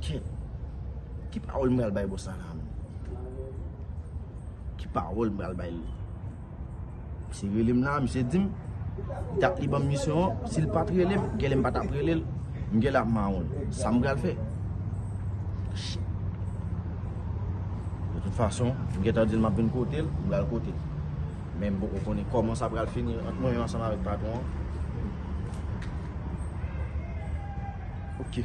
Ken. Ki pawol m pral bay boss la la menm. Ki pawol m pral bay li. Misye rele m la, misye di m. Dat li banm misyon an. Si l pat rele m, genlè m pa tap rele l. M genlè ap mawon l. Sa m pral fè. Shit. De tout fason, m gentan di l map vin kote l. M pral kote l. Men m poko konnen koman sa pral fini ant mwen menm ansanm avèk patwon an. Ok.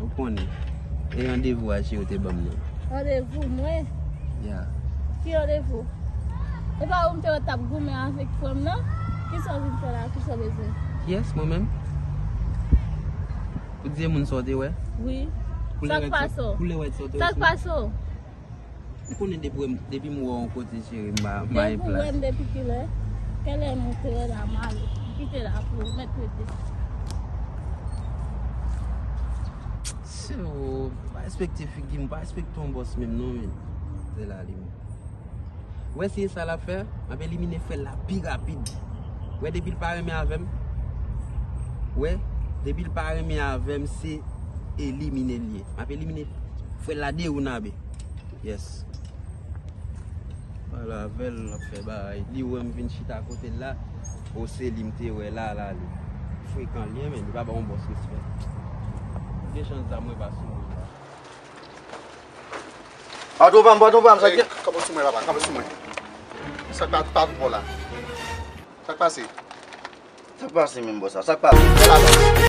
Ou konnen. E randevou Aji yo te banm nan? Randevou mwen? Ya. Ki randevou? E pa ou m te wè t ap goumen avèk frè m nan? Ki sa w vin fè la? Ki sa w bezwen? Kiyès? Mwen menm? Pou tyemoun sa w te wè? Wi. Sa k pase w? Koulè wèt sa w te wè sou mwen? Sa k pase w? Ou konnen depi wèm depi m wè w yon kote cheri m ba bay plas. Depi w wèm depi kilè? Kèlè m monte lè la m ale. M kite la pou ou mèt rete. Sè w pa respekte figi m pa respekte yon bòs menm non men. Zè la li menm. Ou wè si e sa l ap fè? M ap elimine fèl la pi rapid. Ou wè depi l pa renmen avè m. Ou wè depi l pa renmen avè m se elimine l ye. Map elimine frèl la de oun abe Yes Pale avèl lap fè baray Li wèm vin chita kotel la O se li mte wè la la li Frekan liye men li pa ba yon bòs respè Gen chans zam mwen pa sou mwen Pa tro pranm pa tro pranm Sak kanpe sou mwen la kanpe sou mwen Sak pa tro pranm la Sak pase Sak pase menm bòs la Sak pase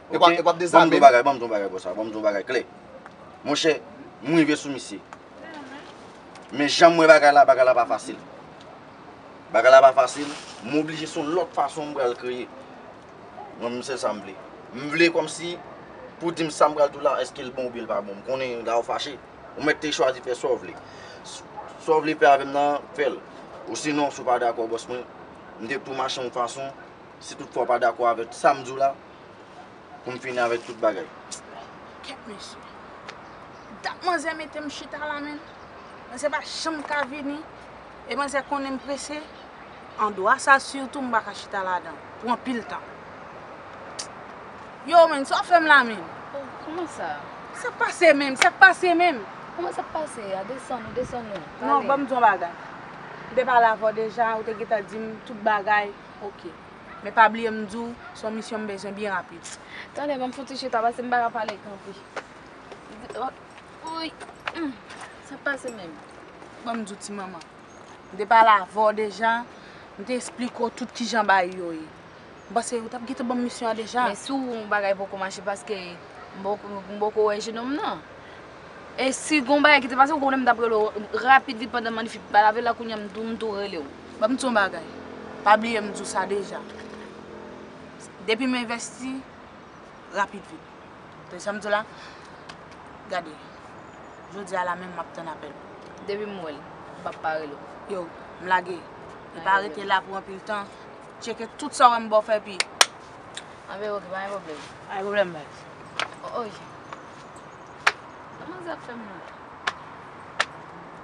Epa epa ap dezame. Banm di yon bagay banm di yon bagay bro sa banm di yon bagay klè. Monchè m rive sou misye. Men janm wè bagay la bagay la pa fasil. Bagay la pa fasil m oblije se yon lòt fason m pral kreye. Mwen menm se sa m vle. M vle kòmsi pou dim sa m pral di w la eske l bon oubyen l pa bon. M konnen la ou fache. Ou mèt te chwazi fè sa w vle. Sa w vle fè avè m nan fè l. Ou sinon si w pa dakò boss mwen m te tou mache yon fason si tout fwa w pa dakò avèk sa m di w la. Pou m fini avèk tout bagay. Kèt mesye. Dat manzè mete m chita la menn. Manzè pa janm ka vini. E manzè konnen m prese. Andwa sa sitou m pa ka chita ladan l. Pou anpil tan. Yow menn, sa w fè m la menn? Oh, kouman sa? Sa k pase menm? Sa k pase menm? Kouman sa k pase a? Desann ou, desann ou. Pale. Non, ban m di yon bagay. M te pale avè w deja, ou te gentan di m tout bagay. Ok. Men pa bliye m di w se yon misyon m bezwen byen rapid. Tande banm fon ti chita pase m pa ka pale kanpe. Wouyy humm sak pase menm. Banm di w ti manman. M te pale avè w deja, m te esplike w tout kijan bagay yo ye. M panse ou tap gentan banm misyon an deja. Men si w wè yon bagay poko mache paske m poko wè jenom nan. E si gon bagay ki te pase ou konnen m tap rele w rapid vit pandan m annik finn pale avè l la kounya m tou rele w. Ban m di w yon bagay, pa bliye m di w sa deja, depi m envesti, rapid vit. Tande sa m di w la? Gade, jodi a la menm m ap tann apèl ou. Depi m wè l, m p ap pa rele w. Yo, m lage. E pa rete la pou anpil tan. Tcheke tout sa w wè m ba w fè epi. Anben oke, pa gen pwoblèm. Pa gen pwoblèm, baz. O, o, Jan. Kòman sa ap fè m nan?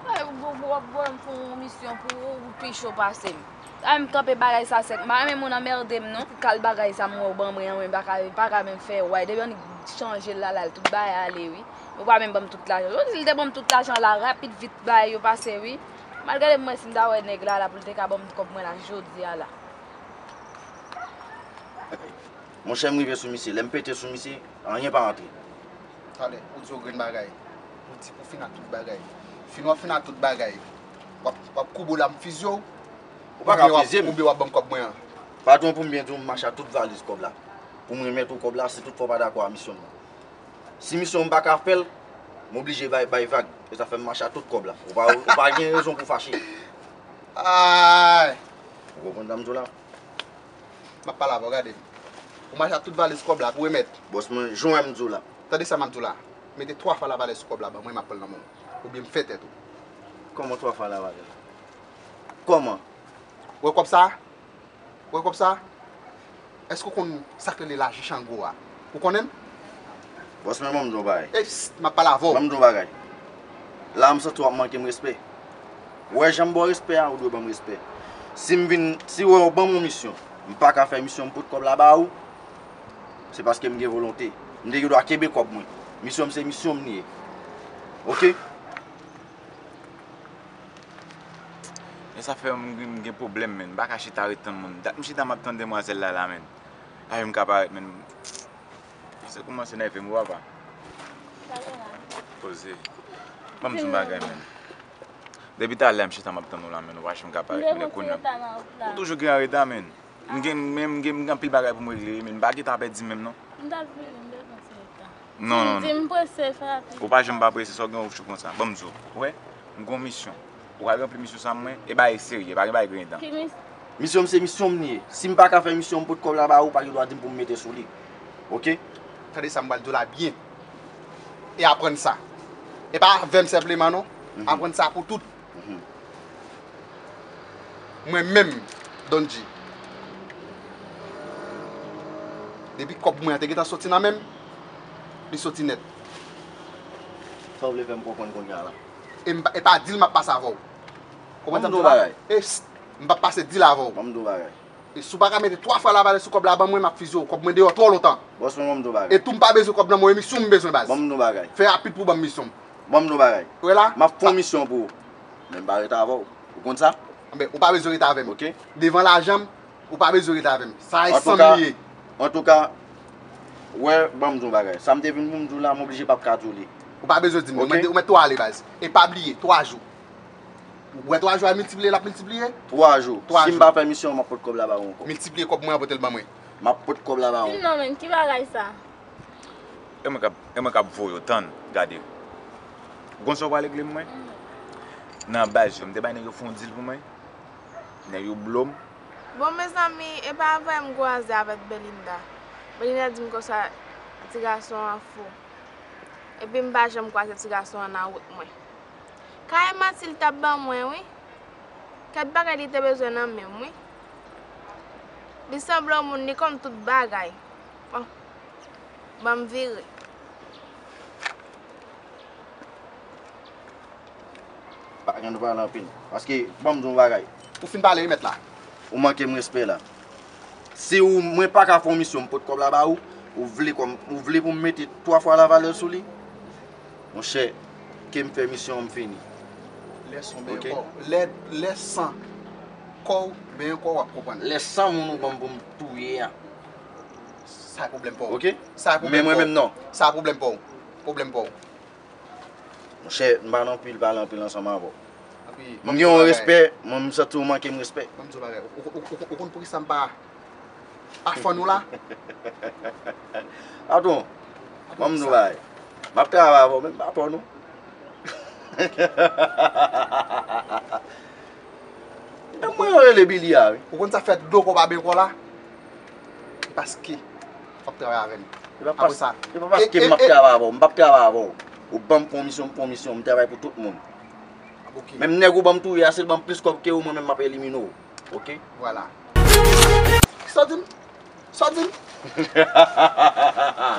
Ay ou bon pou wap pranm pou yon misyon pou ou ou pi cho pasem. Ay m kanpe bagay sa sèt m pa renmen moun anmerde m non. Kal bagay sa m wè ou ban mwen an mwen pa ka menm fè way depi yon nèg chanje l la la l tout bagay ale wi. Ou pa menm ban m tout lajan. Ou si l te ban m tout lajan la rapid vit bagay yo pase wi. M al gade m wè si m ta wè nèg la la pou l te ka ban m kòb mwen la jodi a la. Monchè m rive sou misye lè m pete sou misye anyen pa antre. Talè ou di yon grenn bagay, ou di pou fin ak tout bagay. Fin wap fin ak tout bagay, wap koube w la m fizye w? Ou pa ka fizye m. Oubyen wap ban m kòb mwen an? Patwon pou m byen di w m mache ak tout valiz kòb la pou m remèt ou kòb la si tout fwa w pa dakò a misyon m nan. Si misyon m pa ka fè l, m oblije bay vag. E sa fè m mache ak tout kòb la. Ou pa gen rezon pou w fache. Aayy! Ou konprann sa m di w la? Map pale avè w gade. Ou mache ak tout valiz kòb la pou remèt. Bòs mwen, jan wè m di w la. Tande sa map di w la. Mete 3 fwa lavalè sou kòb la ban mwen map pran l nan men w. Oubyen m fè tèt ou. Kòman 3 fwa lavalè? Kòman? Ou wè kòb sa? Ou wè kòb sa? Èske ou konn sa k rele lajan chango a? Ou konnen l? Bòs mwen banm di w yon bagay. Ey, psst! Map pale avè w. Banm di w yon bagay. la m santi w ap manke m respè. Wè jan m ba w respè a, ou dwe ban m respè. Si m vin, si w wè ou ban m yon misyon, m pa ka fè misyon m pot kòb la ba ou, se paske m gen volonte. M te gen dwa kenbe kòb mwen. Misyon m se misyon m li ye. Oke? Men sa fè m vin gen pwoblèm menn. M pa ka chita ret tann moun. Dat m chita m ap tann demwazèl la la menn. Lave m ka parèt menn. Misye koumanse nèvem wi papa. Sa gen la? Poze. Banm di yon bagay menn. Depi talè m chita map tann ou la menn ou pa janm ka parèt menn e kounya. Ou toujou gen anreta menn. M gen menm m gen anpil bagay pou m regle wi menn m pa gentan apè di menm non. M tap vini m bezwen ti nèg tan. Non non non. Dim prese fè rapid. Ou pa janm pa prese sa w gen ou chou konsa. Banm di w. Ou wè? M gen yon misyon. Ou ka ranpli misyon sa mwen. E bagay serye, pa gen bagay griyen dan. Ki misyon? Misyon m se misyon m li ye. Si m pa ka fè misyon m pot kòb la ba ou, ou pa gen dwa di m pou m mete sou li. Ok? Tande sa m pral di w la byen. E aprann sa. E pa avè m senpleman non. Aprann sa pou tout. Mwen menm, Don G. Depi kòb mwen an te gentan soti nan men m, li soti nèt. Sa w vle fè m konprann kounya la? e pa dil map pase avèw konprann sa m di la e psst m pap pase dil avèw e si w paka mete 3 fwa lavale sou kòb la ban mwen map fizye w kòb mwen deyò twò lontan e tou m pa bezwen kòb nan mwen misyon m bezwen baz fè rapid pou w banm misyon ou wè la map fon misyon pou ou men m pa rete avèw ou konn sa anben ou pa bezwen rete avèm devan lajan m. Ou pa bezwen ret avèm. Sa e sam li ye. Antouka, wè, banm di w yon bagay. Sa m te vin pou m di w la, m oblije pap ka di w li. Ou pa bezwen di m li. Ou mèt tou ale baz. E pa bliye, 3 jou. Ou wè 3 jou a miltipliye l ap miltipliye? 3 jou. Si m pa fè misyon an, m ap pot kòb la ba ou ankò. Miltipliye kòb mwen an pote l ban mwen. M ap pot kòb la ba ou. Di m non menm, ki bagay sa? E mwen k ap, e mwen k ap voye w. Tann, gade. Ou konn sa w pral regle pou mwen? Nan baz yo, m te bay nèg yo fè yon dil pou mwen. Nèg yo blom. Bon mezanmi epa vre m kwaze avèk Belinda Belinda dim konsa ti gason an fou epi m pa janm kwaze ti gason an nan wout mwen ka e manti li tap ban mwen wi kèt bagay li te bezwen nan menm wi li sanble yon moun li konn tout bagay bon banm vire. Pa gen nou pale anpil. Paske ban m di w yon bagay. Ou fin pale wi mèt la. Ou manke m respè la. Si ou mwen pa ka fè yon misyon m pot kòb la ba ou, ou vle kòm ou vle pou m mete 3 fwa lavalè sou li? Monchè, ke m fè misyon an m fini. Lè son benyen kò w. Lè lè san kò w benyen kò w wap konprann. Lè san moun ou ban m pou m touye a. Sa e pwoblèm pa w. Ok? Sa e pwoblèm pa w. Men mwen menm non. Sa e pwoblèm pa w. Pwoblèm pa w. Monchè, m pa nan anpil pale anpil ansanm avè w. M gen yon respè, men m santi ou manke m respè. Ban m di w yon bagay, ou konn poukisa m pa fàn ou la? Patwon, ban m di w yon bagay, m ap travay avè w men m pa fàn ou. Dam mwen yo rele Billy a wi. Ou konn sa k fè dlo kò pa byen kò la? Paske. Fok travay avem apre sa. Se pa paske m ap travay avè w. M p ap travay avè w. Ou ban m konmisyon, m konmisyon. M travay pou tout moun. Menm nèg ou ban m touye a, si l ban m plis kòb ke ou, mwen menm m ap elimine w. Ok? Vwala. Sa w di m? Sa w di m?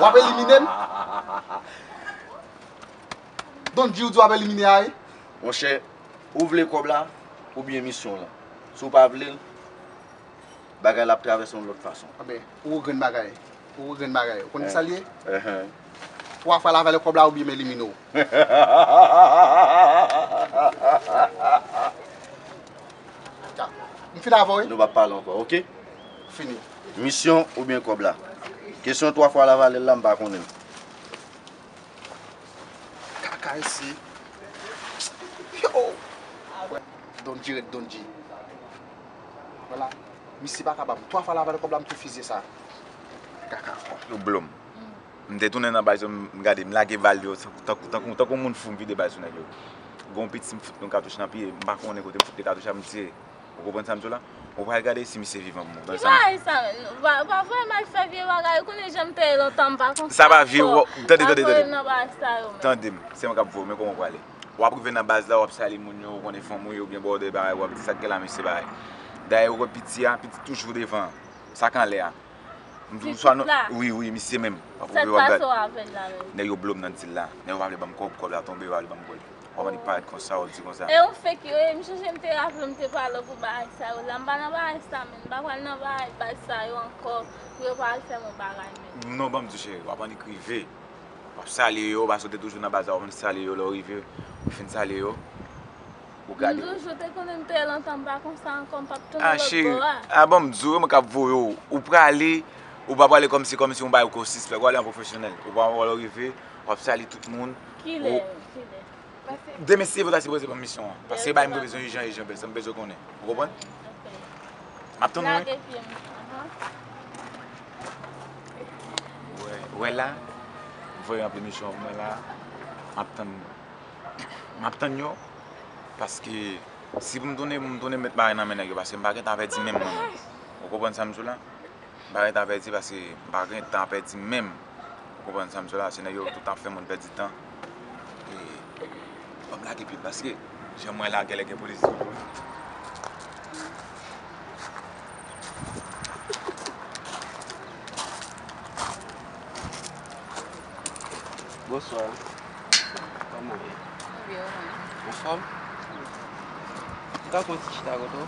W ap elimine m? Don G ou di w ap elimine a e? Monchè, ou vle kòb la oubyen misyon w lan. Si w pa vle l, bagay la ap travèse yon lòt fason. Anben. Ou grenn bagay. Ou grenn bagay. Ou konn kisa l ye? Twa fwa lavalè kòb la oubyen m elimine w. M fin avè w wi. Nou pa pale ankò ok. Fini. Misyon oubyen kòb la? Kesyon twa fwa lavalè l la m pa konnen l. Kaka isi. Donji ret donji. Wala misye paka banm 3 fwa la avanl kob la m tou fizye sa kaka kon. Yo blom. M te tounen nan baz yo m gade m lage bal yo tankou tankou moun fou m vide bal sou nèg yo. Gen yon piti m fout yon katouch nan pye m pa konnen kote m fout li katouch la m tire. Ou konprann sa m di w la? Ou pral gade si misye vivan pou mwen. Ki bagay sa menm? Pa voye m al fè vye bagay ou konnen jan m te ye lontan m pa konn sa ankò. Sa pa vye ou. Tande tande tande. Pa voye m nan bagay sa yo menm. Tande m. Se mwen k ap voye w men koman w prale. wap rive nan baz la wap salye moun yo ou konnen fanm ou ye oubyen bòdè bagay wap di sak gen la mesye bagay dayè ou wè piti a piti toujou devan an sak anlè a m di ou swa nou wi wi misye menm wap rive wap gad nèg yo blom nan dil la nèg yo pa vle banm kòb kòb la tonbe yo pa vle banm kòl wap annik parèt konsa wap di konsa. E ou fek yo ye m chonje m te raple m te pale w pou bagay sa yo la m pa nan bagay sa menm m pa pral nan bagay baz sa yo ankò pou yo pa al fèm yon bagay menm. Non banm di cheri wap annik rive. Wap salye yo paske ou te toujou nan baz la ou vin salye yo lè ou rive ou fin salye yo ou gade yo. M toujou te konnen m te lontan m pa konsa ankò m pap tounen lòt bò a. A bon m di w yo menm kap voye w ou prale ou pa prale kòmsi kòmsi ou bay ou kò sispèk ou ale an pwofesyonèl ou pran lè ou rive wap salye tout moun. Kilè kilè. Demen si se vre sa se vre se banm misyon an. Paske se bagay mwen bezwen ijan ijan bèl sa mwen bezwen konnen. Ou konprann? Map tann ou wi. Lage pye m. Ou wè la? M voye anpil misyon pou mwen la. Map tann nou. Map tann yo. Paske si pou m tounen pou m tounen met bagay nan men nèg yo paske m pa gen tan pèdi menm mwen menm. Ou konprann sa m di w la? M pa gen tan pèdi paske m pa gen tan pèdi menm. Ou konprann sa m di w la? Se nèg yo tout ap fè moun pèdi tan. E banm lage pye paske jan m wè la gèlè gen polis. Bonswa. Kòman ou ye? Mwen byen, ou menm? Anfòm? M ka pran yon ti chita kote w?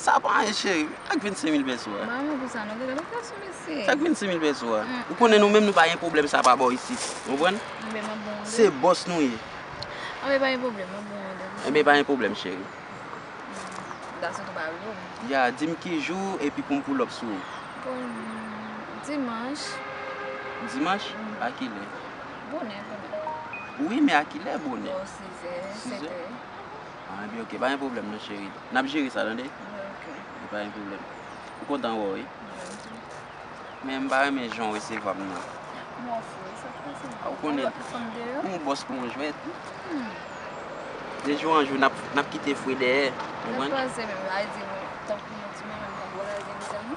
Sa pa anyen cheri. Ak 25 mil peso a. Ba mwen pou sa non. Gade location mesye. Sa ak 25 mil peso a. Ou konnen nou menm nou pa gen pwoblèm sa pa bò isit. Ou konprann? Anben map bon ou de. Se boss nou ye. Anben pa gen pwoblèm. Map bon ou de. Anben pa gen pwoblèm cheri. Dat sa tou pa rive ou. Ya di m ki jou epi pou m pull up sou ou. Bon dimanche. Dimanche? A ki lè? Bonè bonè. Wi men a ki lè bonè? Bò 6 è 7 è. Ah ebyen ok pa gen pwoblèm non cheri nap jere sa tande ok pa gen pwoblèm ou kontan wè w wi ok men mpa renmen jan w resevwa m nan bòs wi sa k pase ah ou konnen m ou bòs kon jwèt de jou an jou nap kite fre dèyè ou konprann nap kraze menm a di tankou yon ti bonè m pap kraze m zanmi.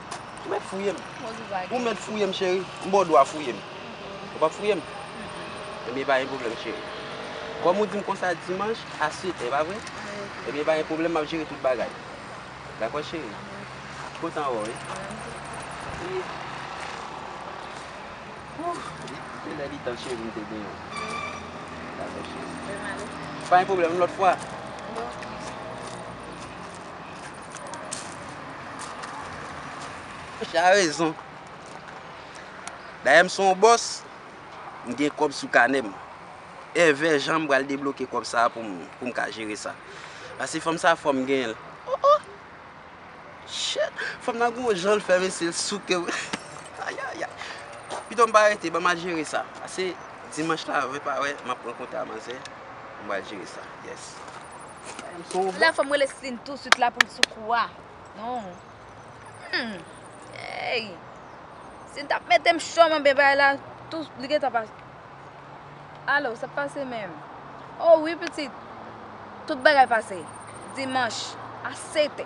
Ou mèt fouye m. Ou mèt fouye m cheri. M ba w dwa fouye m. Ou p ap fouye m? Ebyen pa gen pwoblèm cheri. Kòm ou di m konsa dimanch a sete, e pa vre? Ebyen pa gen pwoblèm m ap jere tout bagay. Dakò cheri? M kontan wè w wi. Se lè li tan cheri m te genyen w. Dakò cheri. Pa gen pwoblèm, lòt fwa. Chè a rezon. Dayè m son w bòs, m gen kòb sou kanè m. Èvè jan m pral debloke kòb sa a pou m pou m ka jere sa. Pase fanm sa a fò m genyen l. O o! Chè! Fanm nan gen yon jan l fè mesye l souke m. Ayayay! Pito m pa rete, ban m al jere sa. Pase dimanch la wè pa wè, m ap rankontre a manzè, m pral jere sa. Yès. La fòm rele Sline tou swit la poul sou kou a non humm eyy Sline tap metem cho man men bagay la tou li gentan pa Alo sak pase menm oh wi pitit tout bagay pase dimanche a 7 è.